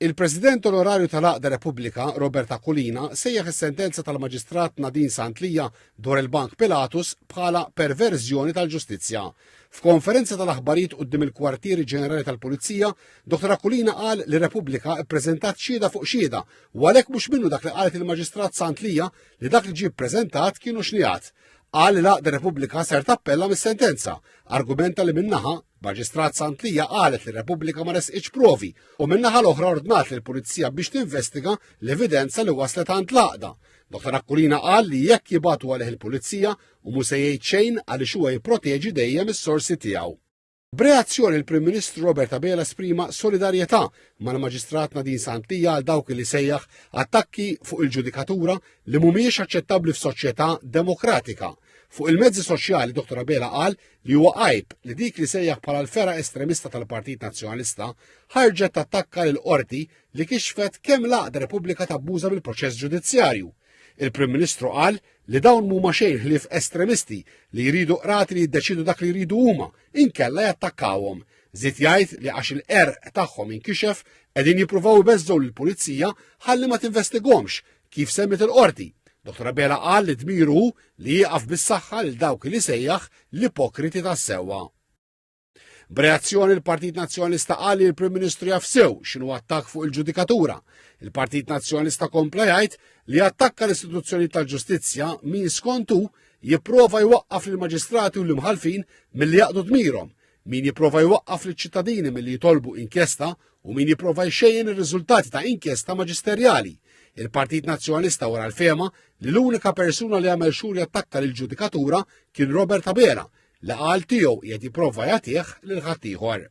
Il-President Onorarju tal-Għaqda Repubblika, Robert Aquilina, sejjaħ is-sentenza tal-Maġistrat Nadine Sant Lia dwar il-Bank Pilatus bħala perverżjoni tal-ġustizzja. F'konferenza tal-aħbarijiet quddiem il-Kwartieri Ġenerali tal-Pulizija, Dr Aquilina qal li Repubblika ppreżentat xhieda fuq xhieda u għalhekk mhux minnu dak li qalet il-Maġistrat Sant Lia li dak li ġie ppreżentat kienu xnigħat. Qal li l-Għaqda Repubblika ser tappella mis-sentenza, argumenta li minnaħa Maġistrat Santlija qalet li Repubblika ma resqitx provi u minnaħa l-oħra ordnat lill pulizija biex tinvestiga l-evidenza li waslet għand l-għaqda. Dr. Akkulina qal li jekk jibatu għalih il-pulizija u mhux se jgħid xejn għaliex huwa jipproteġi dejjem is-sorsi tiegħu. B'reazzjoni il-Prim Ministru Robert Abela esprima solidarjetà mal-Maġistrat Nadine Santlija għal dawk li sejjaħ attakki fuq il-ġudikatura li mhumiex aċċettabbli f'soċjetà demokratika. Fuq il-mezzi soċjali Dr. Abela qal li huwa għajb li dik li sejjaħ bħala l-fera estremista tal-Partit Nazzjonalista ħarġet tattakka lil qorti li kixfet kemm l-għaqda Repubblika tabbuża bil-proċess ġudizzjarju. Il-Prim Ministru qal li dawn mhuma xejn ħlief estremisti li jridu qrati li jiddeċidu dak li jridu huma, inkella jattakkawhom. Zit jgħid li għax il-qerq tagħhom inkixef qegħdin jippruvaw ibeżżgħu lill-pulizija ħalli ma tinvestigomx Kif semmiet il-Qorti, Dottor Abela qal li dmiru hu li jieqaf bis-saħħa lil dawk li sejjaħ l-ipokriti tas-sewwa. B'reazzjoni l-Partit Nazzjonalista qal li l-Prim Ministru jaf sew x'inhu attakk fuq il-ġudikatura. Il-Partit Nazzjonalista kompla jgħid li attakka l-istituzzjoni tal-ġustizzja min skontu jipprova jwaqqaf lill-maġistrati u l-imħalfin milli jaqdu dmirhom Min jipprova jwaqqaf liċ-ċittadini milli jitolbu inkjesta u min jipprova jxejjen ir-riżultati ta' inkjesta maġisterjali. Il-Partit Nazzjonalista wara l-fema li l-unika persuna li għamel xhur jattakka lil ġudikatura kien Robert Abela li qal tiegħu qiegħed jipprova jagħtih lil ħaddieħor.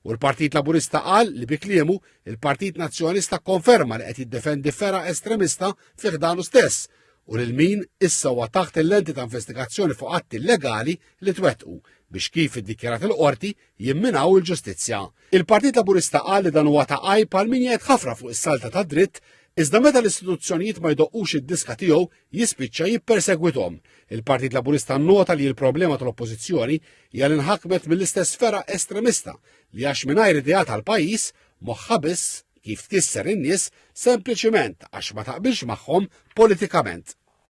U l-Partit Laburista qal li bi kliemu il-Partit Nazzjonalista konferma li qed jiddefendi fera estremista fih danu stess u lil min issa huwa taħt il-lenti ta' investigazzjoni fuq atti illegali li twettqu biex kif iddikjarat il-qorti jimminaw il-ġustizzja. Il-Partit Laburista qal li dan huwa ta' għajb għal min jgħid ħafra fuq is-salta ta' dritt Iżda meta l-istituzzjonijiet ma jdoqqux id-diska tiegħu jispiċċa jippersegwithom. Il-Partit Laburista nnota li l-problema tal-Oppożizzjoni hija li nħakmet mill-istess ferra estremista li għax mingħajr idea tal-pajjiż moħħa biss kif tkisser in-nies sempliċiment għax ma taqbilx magħhom politikament.